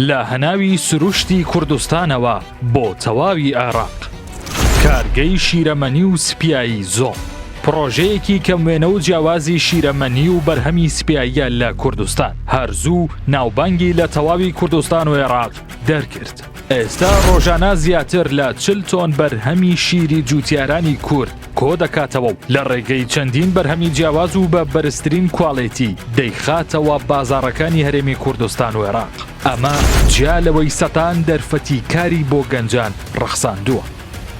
لە هەناوی سروشتی کوردستانەوە بۆ تەواوی عێراق کارگەی شیرەمەنی و سپایی زۆ پرۆژەیەکی کەموێنە و جیاوازی شیرەمەنی و بەرهەمی سپاییە لە کوردستان هەرزوو ناوبانگی لە تەواوی کوردستان و عێراق دەرکرد ئێستا ڕۆژانە زیاتر لە چل تۆن بەرهەمی شیری جووتیارانی کورد کۆدەکاتەوە و لە ڕێگەی چەندین بەرهەمی جیاواز و بە بەرزترین کوالێتی دەیخاتەوە بازاڕەکانی هەرێمی کوردستان و عێراق ئەمە جیا لەوەی سەتان دەرفەتی کاری بۆ گەنجان ڕەخساندووە.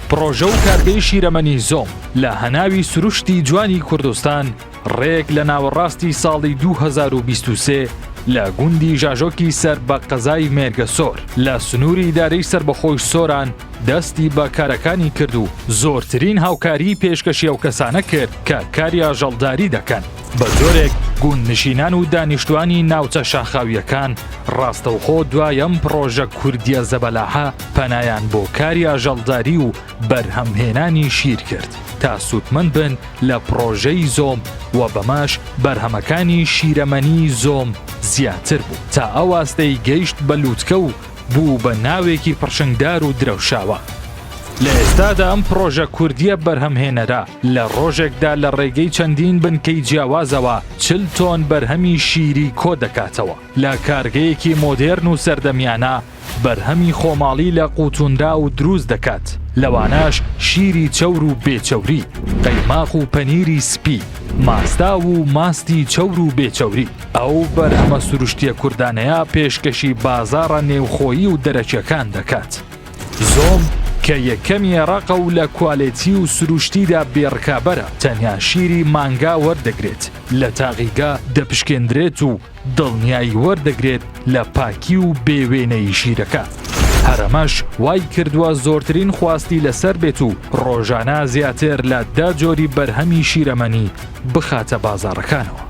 پڕۆژە و کارگەی شیرەمەنی زۆم لە هەناوی سروشتی جوانی کوردستان، ڕێک لە ناوەڕاستی ساڵی 2023 لە گوندی ژاژۆکی سەر بە قەزای مێرگە سۆر لە سنووری دارەی سربەخۆی سۆران دەستی بە کارەکانی کرد و زۆرترین هاوکاری پێشکەشی ئەو کەسانە کرد کە کاری ئاژەڵداری دەکەن بە جۆرێک گوند نشینان و دانیشتوانی ناوچە شاخاویەکان ڕاستەوخۆ دوایەم پڕۆژە کوردیە زەبەلاحە پەنایان بۆ کاری ئاژەڵداری و بەرهەمهێنانی شیر کرد تا سوودمەند بن لە پڕۆژەی زۆم و بەماش بەرهەمەکانی شیرەمەنی زۆم زیاتر بوو تا ئەوواستەی گەیشت بە لووتکە و بوو بە ناوێکی پڕشنگدار و درەوشاوە. لە ئێستادا ئەم پڕۆژە کوردییە بەرهەمهێنەرە لە ڕۆژێکدا لە ڕێگەی چەندین بنکەی جیاوازەوە چل تۆن بەرهەمی شیری کۆدەکاتەوە. لە کارگەیەکی مۆدێرن و سەردەمیانە بەرهەمی خۆماڵی لە قوتونرا و دروست دەکات لەوانەش شیری چەور و بێچەوری قەیماق و پەنیری سپی ماستاو و ماستی چەور و بێچەوری ئەو بەرهەمە سروشتیە کوردانەیە پێشکەشی بازاڕە نێوخۆیی و دەرەکیەکان دەکات زۆم کە یەکەمی ڕەقە و لە کوالێتی و سروشتیدا بێڕکابەرە تەنیا شیری مانگا وەردەگرێت لە تاقیگە دەپشکێندرێت و دڵنیایی وەردەگرێت لە پاکی و بێ وێنەی ژیرەکە. هەرەمەش وای کردووە زۆرترین خواستی لەسەر بێت و ڕۆژانە زیاتر لە دە جۆری بەرهەمی شیرەمەنی بخاتە بازاڕەکانەوە.